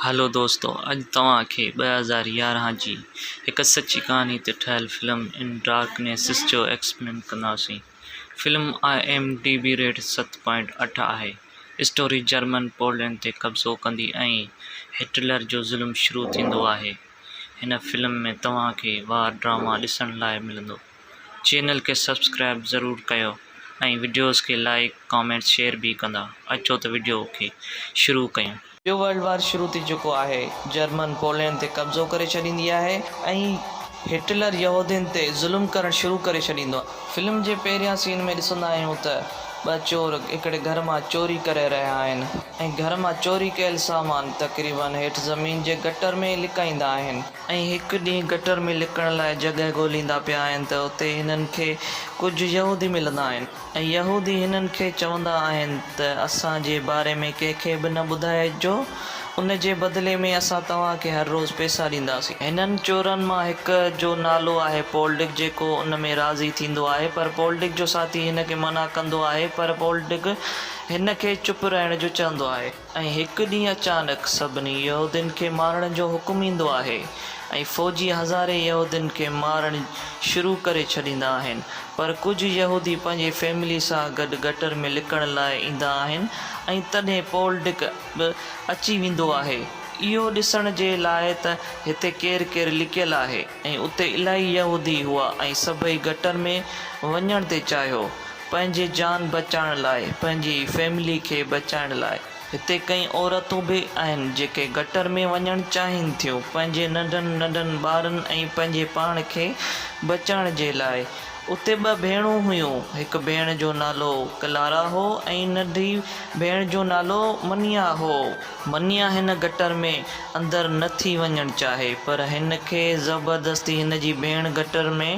هلو دوستو اڄ توهان کي ٻه هزار يارهن جي هڪ سچي ڪهاڻي تي ٺهيل فلم ان ڊارڪنيسس جو ايڪسپلين ڪنداسين film IMDb rate ست پوائنٽ اٺ آهي اسٽوري جرمن پولينڊ تي قبضو ڪندي ۽ هٽلر جو ظلم شروع ٿيندو آهي هن فلم ۾ توهان کي وار ڊراما ڏسڻ لاء ملندو چينل کي سبسڪرائب ضرور ڪيو ۽ وڊيوز کي لائيڪ ڪامينٽ شيئر به ڪندا اچو ته وڊيو کي شروع ڪيون. ٻيو ورلڊ وار شروع ٿي چڪو آهي جرمن پولينڊ تي قبضو ڪري ڇڏيندي آهي ۽ هٽلر يهودين تي ظلم ڪرڻ شروع ڪري ڇڏيندو آهي فلم جي پهريان سين ۾ ڏسندا آهيون ته ٻه چور هڪڙي گهر مان چوري ڪري رهيا آهن ۽ گهر مان چوري ڪيل سامان تقريبن هيٺ زمين جي گٽر ۾ لڪائيندا آهن. ۽ هڪ ڏينهن گٽر ۾ لڪڻ لاء جڳهه ڳوليندا پيا آهن ته اتي هنن کي ڪجهه يهودي ملندا آهن ۽ يهودي هنن کي چوندا آهن ته اسان جي باري ۾ ڪنهن کي به نه ٻڌائجو ان جي بدلي ۾ اسان توهان کي هر روز پئسا ڏينداسين. هنن چورن مان هڪ جو نالو آهي پولڊڪ جيڪو ان ۾ راضي ٿيندو آهي پر پولڊڪ جو ساٿي هن کي منع ڪندو آهي پر پولڊڪ هن کي چپ رهڻ جو چوندو آهي. ۽ هڪ ڏينهن اچانڪ سڀني يهودين کي مارڻ جو حڪم ايندو آهي ۽ فوجي هزارين يهودين کي مارڻ شروع ڪري ڇڏيندا آهن پر ڪجهه يهودي پنهنجي فيملي سان گڏ گٽر ۾ لڪڻ لاء ايندا آهن ۽ تڏهن پولڊڪ به اچي ويندو آهي اهو ڏسڻ جي لاء ته هتي ڪير ڪير لڪيل آهي. ۽ اتي الائي يهودي هئا ۽ سڀئي گٽر ۾ وڃڻ تي چاهيو، پنهنجي جان بچائڻ لاء، پنهنجي فيملي کي بچائڻ لاء. هتي ڪئين عورتون به آهن جيڪي گٽر ۾ وڃڻ چاهين ٿيون، پنهنجي ننڍن ننڍن ٻارن ۽ پنهنجي پاڻ کي بچائڻ جي لاء. اتي ٻه ڀيڻون هيون، هڪ ڀيڻ جو نالو ڪلارا هو ۽ ننڍي ڀيڻ جو نالو منيا هو. منيا هن گٽر ۾ اندر نه ٿي وڃڻ چاهي پر هن کي زبردستي هن جي ڀيڻ گٽر ۾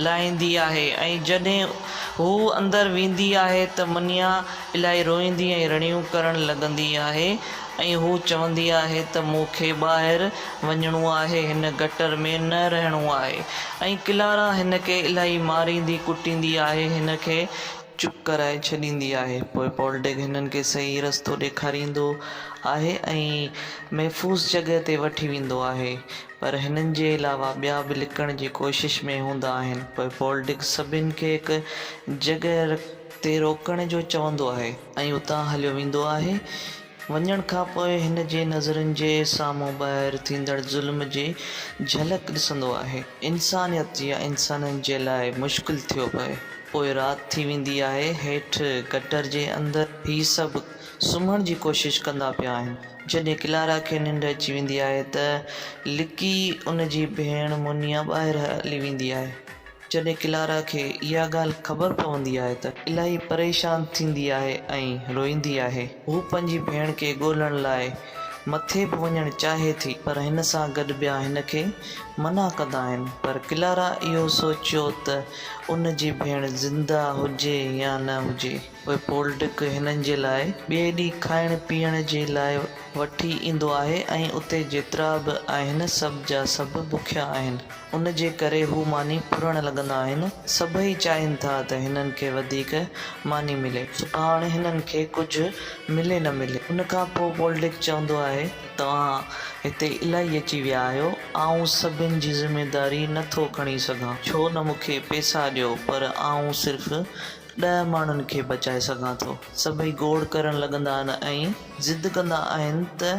لاهيندي آهي ۽ جڏهن هو اندر ويندي آهي ته منيا الاهي روئيندي ۽ رڙيون ڪرڻ لڳندي آهي ۽ هو چوندي آهي ته مون کي ٻاهر وڃڻو آهي هن گٽر ۾ نه رهڻو آهي ۽ ڪلارا هن کي الاهي ماريندي ڪٽيندي آهي هن کي چپ ڪرائي ڇڏيندي آهي. پوء پولڊيگ هنن کي صحيح رستو ڏيکاريندو آهي ۽ محفوظ جڳهه تي وٺي ويندو آهي. پر هنن جي علاوه ٻيا به لڪڻ جي ڪوشش ۾ هوندا آهن. پوء پولڊيگ سڀن کي هڪ جڳهه تي روڪڻ جو چوندو آهي. ۽ اتان هليو ويندو آهي. وڃڻ کان پوء هن جي نظرن جي سامهون ٻاهر ٿيندڙ ظلم جي جهلڪ ڏسندو آهي. انسانيت يا انسانن جي لاء مشڪل ٿيو پئي. پوء رات ٿي ويندي آهي. هيٺ گٽر جي اندر هي سڀ سمهڻ جي ڪوشش ڪندا پيا آهن. جڏهن ڪلارا کي ننڊ اچي ويندي آهي ته لڪي ان جي ڀيڻ مونيا ٻاهر هلي ويندي آهي. جڏهن ڪلارا کي اها ڳالهه خبر پوندي آهي ته. الاهي پريشان ٿيندي آهي ۽ روئيندي آهي. هو پنهنجي ڀيڻ کي ڳولڻ لاء مٿي به وڃڻ چاهي ٿي پر هن سان گڏ ٻيا هن کي منع ڪندا آهن پر ڪلارا اهو سوچيو ته ان جي ڀيڻ زنده هجي يا نه هجي. پوء پولڊڪ هنن جي لاء ٻئي ڏينهن کائڻ پيئڻ جي لاء وٺي ايندو آهي ۽ اتي جيترا به آهن سڀ جا سڀ بکيا آهن. ان جي ڪري هو ماني ڦرڻ لڳندا آهن. سڀئي چاهين ٿا ته هنن کي وڌيڪ ماني ملي. سڀاڻ هنن کي ڪجهه ملي نه ملي. ان کان پوء پولڊڪ چوندو آهي ته توهان هتي الائي اچي ويا آهيو. آئون سڀن جي ذميداري نه ٿو کڻي سگهان. ڇو نه مون کي پيسا ڏيو پر آئون صرف ڏهه ماڻهن کي بچائي سگهان ٿو. سڀئي گوڙ ڪرڻ لڳندا آهن ۽ ضد ڪندا آهن ته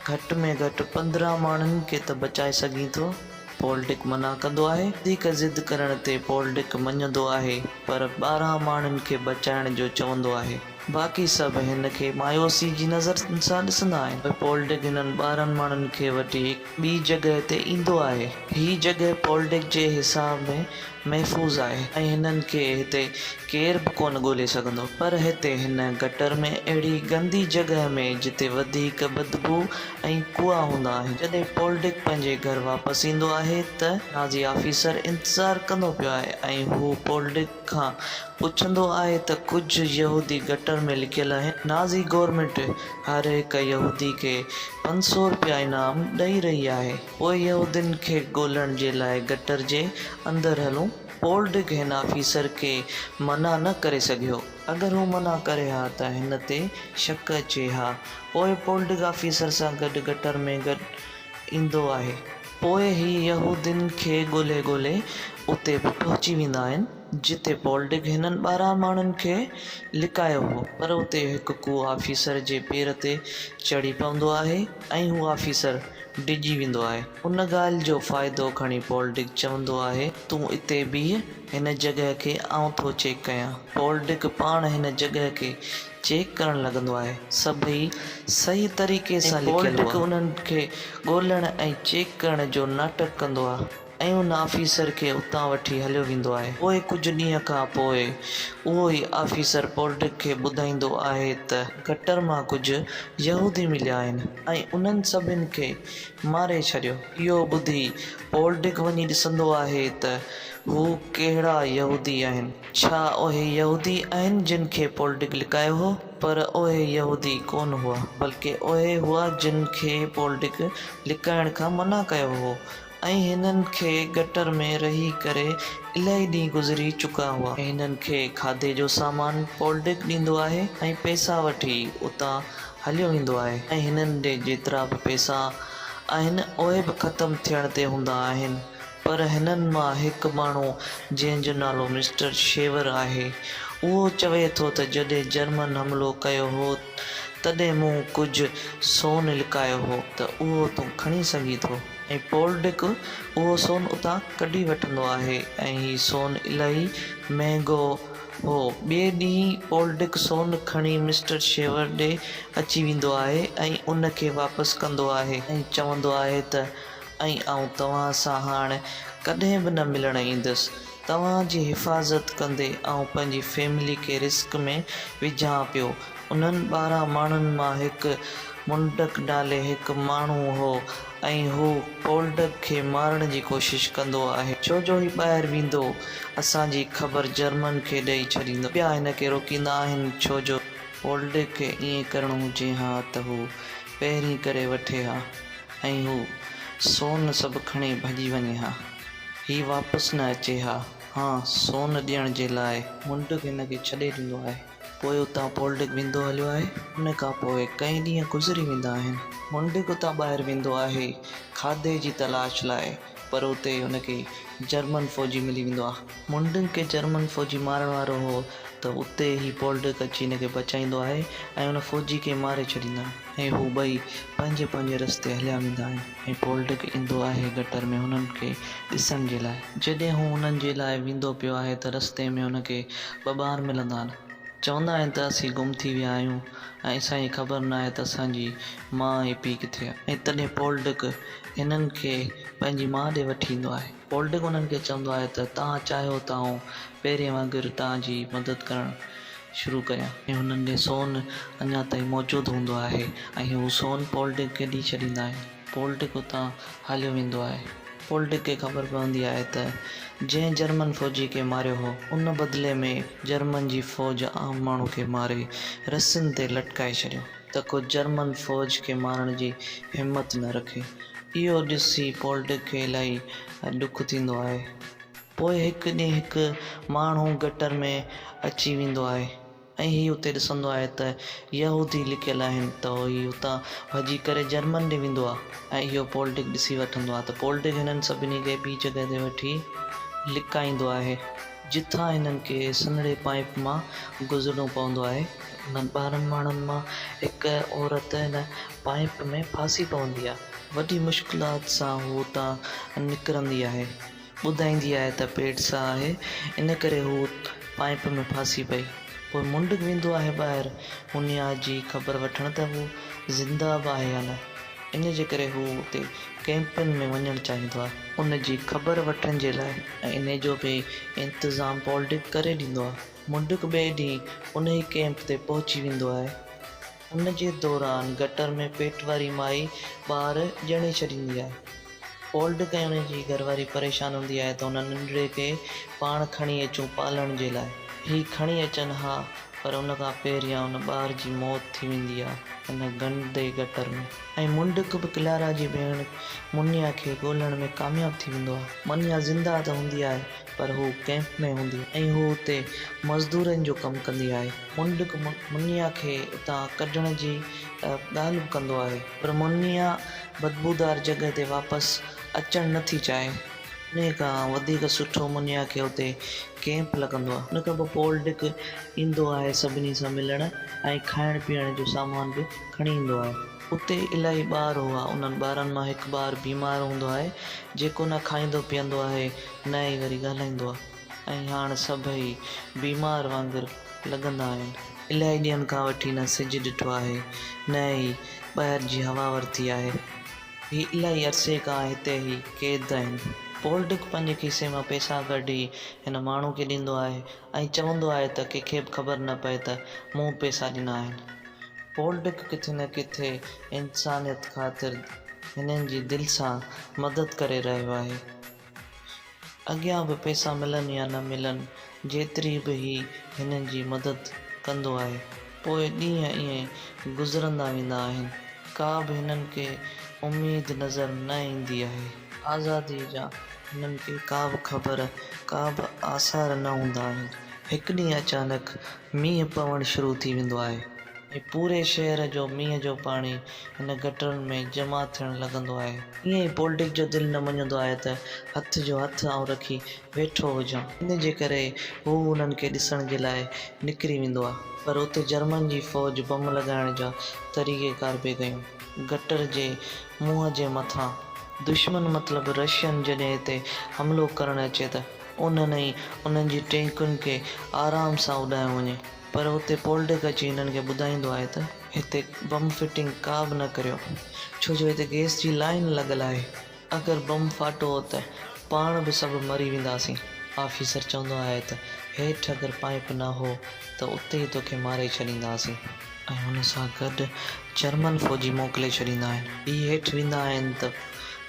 گهٽ ۾ گهٽ پندرهن ماڻهن کي ته بچائي سگهين ٿو. پول ڊڪ منع ڪندو آهي. وڌيڪ ضد ڪرڻ تي پول ڊڪ مڃندو آهي پر ٻارهن ماڻهن کي بچائڻ جو چوندو آهي. باقي سڀ هن کي مايوسي جي نظر سان ڏسندا آهن. پول ڊڪ هنن ٻارهن ماڻهن کي وٺي هڪ. ٻي جڳهه تي ايندو آهي. هي جڳهه پولڊڪ جي حساب ۾ محفوظ آهي ۽ هنن کي هتي ڪير به ڪونه ڳولي سگهندو. پر هتي هن گٽر ۾ اهڙي گندي جڳهه ۾ جتي وڌيڪ بدبوء ۽ ڪوئا هوندا آهن. جڏهن پولڊڪ پنهنجي گهر واپس ايندو آهي ته نازي آفيسر انتظار ڪندو پيو آهي ۽ هو پولڊڪ. کان پڇندو آهي ته ڪجهه يهودي گٽر ۾ لڪيل آهن. نازي گورنمينٽ هر هڪ يهودي کي پنج سؤ رپيا انعام ڏئي رهي آهي. پوء يهودين کي ڳولڻ جي لاء گٽر جي اندر هلون. پول ڊڪ هن آفيسر کي منع نه ڪري سگهيو. اگر هو منع ڪري ها ته هن تي شڪ اچي ها. پوء پول ڊڪ آفيسر سان گڏ گٽر ۾ گڏ ايندو آهي. پوء هي يهودين کي ڳولهي ڳولهي اتي به پهچي ويندا آهن، جتي پولڊگ هنن ٻارهن ماڻهن کي لڪايو هو. پر اتي هڪ ڪو آفيسر جي پير تي چڙهي پوندو آهي ۽ هو آفيسر ڊڄي ويندو آهي. ان ڳالهه جو فائدو کڻي پولڊگ چوندو آهي، تون اتي بيهه، هن جڳهه کي آئون ٿو چيڪ ڪيان. پولڊگ پاڻ هن جڳهه کي چيڪ ڪرڻ لڳندو آهي سڀئي صحيح طريقي سان لکيل هئا. ۽ پولٽڪ انهن کي ڳولڻ ۽ چيڪ ڪرڻ جو ناٽڪ ڪندو آهي ۽ ان آفيسر کي اتان وٺي هليو ويندو آهي. پوء ڪجهه ڏينهن کان پوء اهو ئي آفيسر پولٽڪ کي ٻڌائيندو آهي ته. گٽر مان ڪجهه يهودي مليا آهن ۽ انهن سڀني کي ماري ڇڏيو. اهو ٻڌي پولٽڪ وڃي ڏسندو آهي ته هو ڪهڙا يهودي آهن. ڇا اهي يهودي آهن جن کي پول ڊڪ لڪايو هو؟ پر اهي يهودي ڪونه هئا، بلڪه اهي هئا جن کي پول ڊڪ لڪائڻ کان منع ڪيو هو ۽ هنن کي گٽر ۾ رهي ڪري الائي ڏينهن گذري چڪا هئا. هنن کي کاڌي جو سامان پول ڊڪ ڏيندو آهي ۽ پئسا وٺي اتان هليو ويندو آهي ۽ هنن ڏي جيترا به پئسا آهن اهي به ختم ٿيڻ تي هوندا آهن. پر هنن مان هڪ ماڻهو جنهن جو نالو مسٽر شيور آهي اهو چوي ٿو ته جڏهن جرمن حملو ڪيو هو تڏهن مون ڪجهه سون لڪايو هو ته اهو تون کڻي سگهين ٿو ۽ پولڊڪ اهو سون اتان ڪڍي وٺندو آهي ۽ هي سون الاهي مهنگو هو ٻئي ڏينهن پولڊڪ سون کڻي مسٽر شيور ڏي اچي ويندو آهي ۽ ان کي واپس ڪندو آهي ۽ چوندو آهي ته ۽ آئون توهان سان هاڻ ڪڏهن به نه ملڻ ايندس. توهان جي حفاظت ڪندي آئون پنهنجي فيملي کي رسڪ ۾ وجهان پيو. انهن ٻارهن ماڻهن مان هڪ منڊڪ نالي هڪ ماڻهو هو ۽ هو پولڊگ کي مارڻ جي ڪوشش ڪندو آهي. ڇو جو هي ٻاهر ويندو اسان جي خبر جرمن کي ڏئي ڇڏيندو. ٻيا هن کي روڪيندا آهن ڇو جو. پولڊگ کي ائين ڪرڻو هجي ها ته هو پهرين ڪري وٺي ها. ۽ هو سون سڀ کڻي ڀڄي وڃي ها. هي واپس نه اچي ها. هان سون ڏيڻ جي لاء. مونڊڪ هن کي ڇڏي ڏيندو آهي. پوء اتان پولڊڪ ويندو هليو آهي. ان کان پوء ڪئين ڏينهن گذري ويندا آهن. مونڊڪ اتان ٻاهر ويندو آهي کاڌي جي تلاش لاء پر اتي هن کي جرمن فوجي ملي ويندو آهي. مونڊڪ کي جرمن فوجي مارڻ وارو هو ته اتي هي پولڊڪ اچي هن کي بچائيندو آهي ۽ ان فوجي کي ماري ڇڏيندا آهن. ۽ هو ٻئي پنهنجي پنهنجي رستي هليا ويندا آهن ۽ پولڊڪ ايندو آهي گٽر ۾ هنن کي ڏسڻ جي لاء. جڏهن هو هنن جي لاء ويندو پيو آهي ته رستي ۾ هن کي ٻه ٻار ملندا آهن. چوندا آهن ته اسين گم ٿي ويا آهيون ۽ اسان کي خبر ناهي ته اسان جي ماء ۽ پيء ڪٿي آهن. ۽ تڏهن پولڊڪ هنن کي پنهنجي ماء ڏي وٺي ايندو آهي. پولٽڪ انهن کي چوندو آهي ته توهان چاهيو ته آئون پهرين وانگر توهان جي مدد ڪرڻ شروع ڪريان. ۽ هنن ڏي سون اڃا تائين موجود هوندو آهي ۽ هو سون پولٽڪ کي ڏئي ڇڏيندا آهن. پولٽڪ اتان هليو ويندو آهي. پولٽڪ کي خبر پوندي آهي ته جنهن جرمن فوجي کي ماريو هو ان بدلي ۾ جرمن جي فوج عام ماڻهو کي ماري رسين تي لٽڪائي ڇڏيو. ته ڪو جرمن فوج کي مارڻ جي همت نه رکي. اهو ڏسي پولڊڪ کي الائي ڏک ٿيندو آهي. پوء هڪ ڏينهن هڪ ماڻهو گٽر ۾ اچي ويندو آهي ۽ هي اتي ڏسندو آهي ته يهودي لڪيل آهن ته هي اتان ڀڄي ڪري جرمن ڏي ويندو آهي ۽ اهو پولڊڪ ڏسي وٺندو آهي ته پولڊڪ هنن سڀني کي ٻي جڳهه تي وٺي لڪائيندو آهي. جتان هنن کي سنهڙي پائيپ مان گذرڻو پوندو آهي. انهن ٻارهن ماڻهن مان هڪ عورت هن پائيپ ۾ ڦاسي پوندي آهي. وڏي مشڪلات سان هوء اتان نڪرندي آهي. ٻڌائيندي آهي ته پيٽ ساهه آهي، ان ڪري هوء پائيپ ۾ ڦاسي پئي. پوء منڊڪ ويندو آهي ٻاهر هونيا جي خبر وٺڻ ته هوء زنده به آهي يا نه. ان جي ڪري هو اتي ڪئمپن ۾ وڃڻ چاهيندو آهي. ان جي خبر وٺڻ جي لاء ۽ ان جو به انتظام پولڊڪ ڪري ڏيندو آهي. منڊڪ ٻئي ڏينهن ان ئي ڪئمپ تي پهچي ويندو آهي. ان جي دوران گٽر ۾ پيٽ واري مائي ٻار ڄڻي ڇڏيندي آهي. فولڊ ڪيڻ جي گهرواري پريشان هوندي آهي ته هن ننڍڙي کي پاڻ کڻي اچون پالڻ جي لاء. هي کڻي اچن ها پر ان کان پهريان ان ٻار جي موت ٿي ويندي آهي ان گندي گٽر ۾. ۽ منڊڪ به ڪلارا جي ڀيڻ منيا کي ڳولڻ ۾ ڪامياب ٿي ويندو آهي. منيا زنده ته هوندي آهي پر هو ڪئمپ ۾ هوندي آهي ۽ هو اتي مزدورن جو ڪم ڪندي آهي. منڊڪ منيا کي اتان ڪڍڻ جي ڳالهه به ڪندو آهي. پر مونيا بدبودار جڳهه تي واپس اچڻ نه ٿي چاهي. انهيء کان وڌيڪ سٺو مونيا کي اتي ڪئمپ لڳندو آهي. ان کان پوء پول ڊڪ ايندو آهي سڀني سان ملڻ ۽ کائڻ پيئڻ جو سامان به کڻي ايندو آهي. اتي الائي ٻار هئا. انهن ٻارن مان هڪ ٻار بيمار هوندو آهي، جيڪو نه کائيندو پيئندو آهي نه ئي وري ڳالهائيندو آهي. ۽ هاڻ سڀئي بيمار وانگر لڳندا آهن. الائي ڏينهن کان وٺي نه سج ڏٺو آهي نه ئي ٻاهر جي هوا ورتي آهي. هي الائي عرصي کان هتي ئي قيد آهن. پول ڊڪ پنهنجي کيسي مان پئسا ڪڍي هن ماڻهو کي ڏيندو آهي ۽ چوندو آهي ته ڪنهن کي به خبر نه پئي ته مون پئسا ڏنا آهن. پول ڊڪ ڪٿي نه ڪٿي انسانيت خاطر هنن جي دل سان مدد ڪري رهيو آهي. اڳيان به پئسا ملن يا نه ملن، جيتري به هي هنن جي مدد ڪندو آهي. پوء ڏينهن ائين گذرندا ويندا آهن. ڪا به هنن کي اميد نظر نه ايندي آهي. آزاديء جا هنن کي ڪا به خبر، ڪا به آثار نه هوندا آهن. هڪ ڏينهن اچانڪ مينهن پوڻ شروع ٿي ويندو آهي ۽ پوري شهر جو مينهن جو پاڻي هن گٽرن ۾ جمع ٿيڻ لڳندو آهي. ائين ئي پولڊڪ جو دل نه مڃيندو آهي ته هٿ جو هٿ آئون رکي ويٺو هجان. ان جي ڪري هو انهن کي ڏسڻ جي لاء نڪري ويندو آهي. پر اتي جرمن جي فوج بم لڳائڻ جا طريقه ڪار پئي ڪيون. گٽر جي منهن جي مٿان. دشمن مطلب رشين جڏهن هتي حملو ڪرڻ اچي ته انهن ۽ انهن جي ٽينڪن کي آرام سان اڏايو وڃي. پر اتي پولڊڪ اچي هنن کي ٻڌائيندو آهي ته هتي بم فٽنگ ڪا به نه ڪريو ڇو جو هتي گئس جي لائين لڳل آهي اگر بم ڦاٽو ته پاڻ به سڀ مري وينداسين آفيسر چوندو آهي ته هيٺ اگر پائيپ نه هو ته اتي ئي توکي ماري ڇڏينداسين ۽ ان سان گڏ جرمن فوجي موڪلي ڇڏيندا آهن هي هيٺ ويندا آهن ته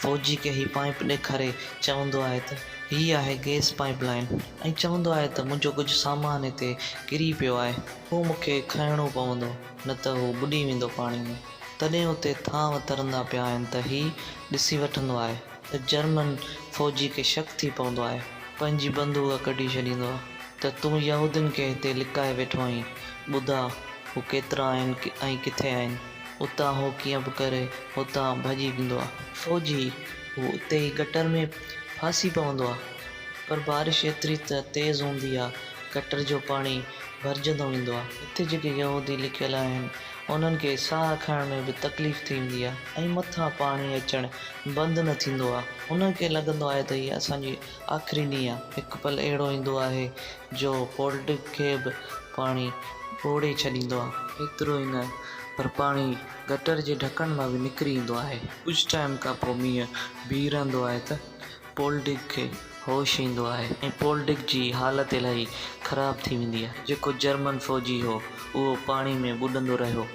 فوجي کي هي پائيپ ڏيکاري چوندو آهي ته. هي آهي گئس پائيپ لائين ۽ چوندو آهي ته منهنجو ڪجهه سامان هتي ڪري پيو آهي، اهو مون کي کنئڻو پوندو نه ته هو ٻڏي ويندو پاڻي ۾. تڏهن اتي ٿانو ترندا پيا آهن ته هي ڏسي وٺندو آهي ته جرمن فوجي کي شڪ ٿي پوندو آهي، پنهنجي بندوق ڪڍي ڇڏيندو آهي ته تون يهودين کي هتي لڪائي ويٺو آهين، ٻڌاء هو ڪيترا آهن ۽ ڪٿي آهن. اتان هو ڪيئن به ڪري هتان ڀڄي ويندو آهي. فوجي هو اتي ئي گٽر ۾. ڦاسي پوندو آ پر بارش ايتري ته تيز هوندي آ گٽر جو پاڻي ڀرجندو ايندو آ. هتي جيڪي يهودي لڪيل آهن انهن کي ساهه کڻڻ ۾ به تڪليف ٿي ويندي آ ۽ مٿان پاڻي اچڻ بند نه ٿيندو آ انهن کي لڳندو آهي ته هيء اسان جي آخري نينهن آ هڪ پل اهڙو ايندو آهي جو پولڊگ کي به پاڻي ٻوڙي ڇڏيندو آ. ايترو ئي نه پر پاڻي گٽر جي ڍڪڻ مان به نڪري ايندو آهي. ڪجهه ٽائيم کان پوء مينهن بيهي رهندو آهي ته پول ڊگ کي هوش ايندو آهي ۽ پول ڊگ جي حالت الاهي خراب ٿي ويندي آهي. جيڪو جرمن فوجي هو اهو پاڻي ۾ ٻڏندو رهيو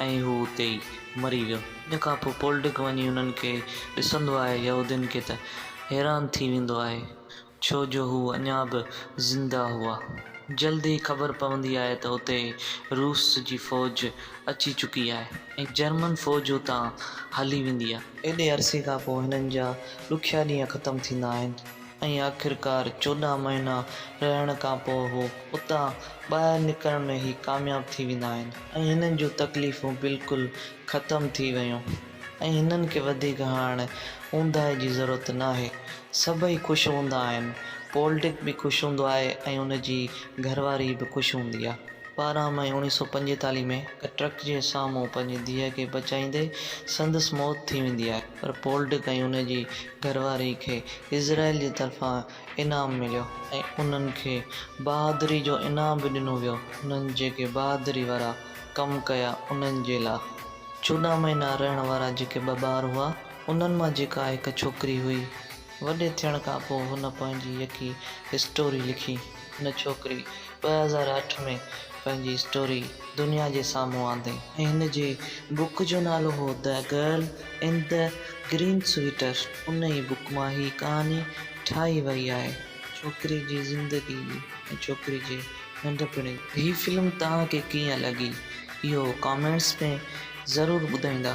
۽ هو اتي ئي مري ويو. ان کان پوء پول ڊگ وڃي انهن کي ڏسندو آهي يهودين کي ته حيران ٿي ويندو آهي. ڇو جو هو اڃا به زنده هئا. جلد ئي خبر پوندي آهي ته اتي روس جي فوج اچي چڪي آهي ۽ جرمن فوج اتان هلي ويندي آهي. ايڏي عرصي کان پوء هنن جا ڏکيا ڏينهن ختم ٿيندا آهن ۽ آخرڪار چوڏهن مهينا رهڻ کان پوء هو اتان ٻاهر نڪرڻ ۾ ئي ڪامياب ٿي ويندا آهن ۽ هنن جون تڪليفون بلڪل ختم ٿي ويون. ۽ هنن کي وڌيڪ هاڻ اونداهي جي ضرورت ناهي. سڀئي خوش هوندا آهن. پول ڊڪ به خوش هوندو آهي ۽ ان جي گهرواري به خوش هوندي آهي. ٻارهن مئي اوڻيهه سؤ پنجيتاليهه ۾ هڪ ٽرڪ جي سامهون پنهنجي ڌيء کي بچائيندي سندس موت ٿي ويندي آهي. پر پول ڊڪ ۽ ان جي گهرواري کي اسرائيل جي طرفان انعام مليو ۽ انهن کي بهادري جو انعام به ڏنو ويو. انهن جيڪي بهادري وارا ڪم ڪيا انهن جي لا. چوڏهن مهينا رهڻ وارا جيڪي ٻه ٻار هئا، انهن مان جيڪا هڪ ڇوڪري هئي. وڏي ٿيڻ کان پوء هن پنهنجي يڪي اسٽوري لکي. هن ڇوڪري ٻه هزار اٺ ۾ پنهنجي اسٽوري دنيا جي سامهون آندي. هن جي بوڪ جو نالو هو The Girl in the Green Sweater. ان ئي بوڪ مان هي ڪهاڻي ٺاهي وئي آهي. ڇوڪري جي زندگي ۽ ڇوڪري جي ننڍپڻ جي. هي فلم توهان کي ڪيئن لڳي اهو ڪامينٽس ۾ ضرور ٻڌائيندا.